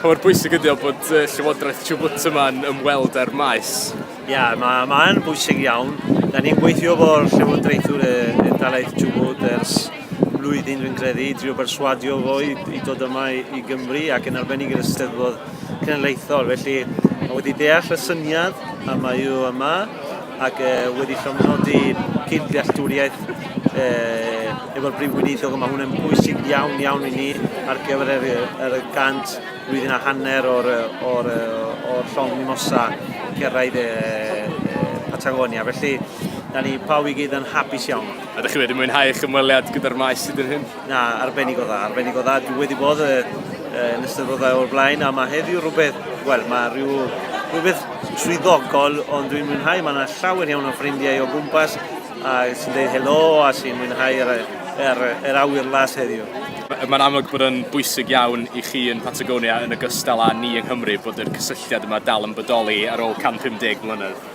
Pa mor bwysig ydy o bod uh, Llywodraeth Chubut yma'n ymweld â'r maes? Ia, yeah, mae'n ma bwysig iawn. Da ni'n gweithio fo'r Llywodraethwr y Dalaeth Chubut ers blwyddyn, dwi'n credu, i drio berswadio fo i, i dod yma i, i Gymru ac yn arbennig yr ysteddfod cenedlaethol. Felly, mae wedi deall y syniad a mae yw yma ac wedi llofnodi cyd-ddealltwriaeth efo'r Prif Weinidog, mae hwn yn bwysig iawn iawn i ni ar gyfer yr, yr gant flwyddyn a hanner o'r, or, or llong mimosa cyrraedd e, e, Patagonia. Felly, da ni pawb i gyd yn hapus iawn. A ydych chi wedi mwynhau eich ymweliad gyda'r maes sydd yn hyn? Na, arbennig o dda, arbennig o dda. Dwi wedi bod y, y, yn ystyddodau o'r blaen, a mae heddiw rhywbeth, wel, mae rhyw, rhywbeth swyddogol, ond dwi'n mwynhau, mae yna llawer iawn o ffrindiau o gwmpas, a sy'n dweud helo, a sy'n mwynhau yr, yr, yr awyr las heddiw. Mae'n amlwg bod yn bwysig iawn i chi yn Patagonia yn ogystal â ni yng Nghymru bod yr cysylltiad yma dal yn bodoli ar ôl 150 mlynedd.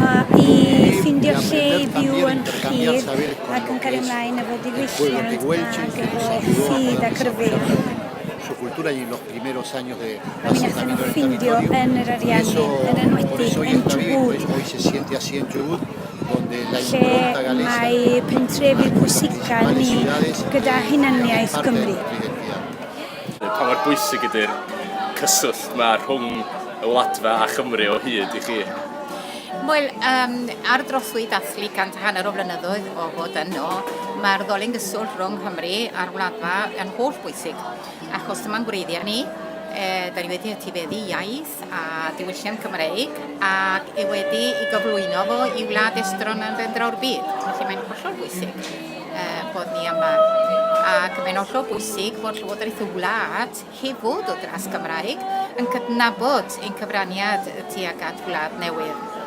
Mae i ffindio lle i fyw yn rhydd ac yn cario ymlaen efo diwylliant ac efo ffydd ac rhyfedd. Rwy'n ateb yn ffindio yn yr Ariannin, yn enwedig yn Chubut, lle mae pentrefi pwysicaf ni gyda hunaniaeth Gymru. Pa mor bwysig ydy'r cyswllt 'ma rhwng y Wladfa a Chymru o hyd i chi? Wel, um, ar drothwy dathlu cant hanner o flynyddoedd o fod yno, mae'r ddolen gyswllt rhwng Nghymru a'r Wladfa yn holl bwysig, achos dyma'n gwreiddiau ni, e, da ni wedi etifeddu iaith a diwylliant Cymreig ac e wedi i gyflwyno fo i wlad estron yn dendraw'r byd, felly mae'n hollol bwysig. bod ni yma. Ac mae'n hollol bwysig bod Llywodraeth y wlad, heb fod o dras Gymraeg, yn cydnabod ein cyfraniad tuag at wlad newydd.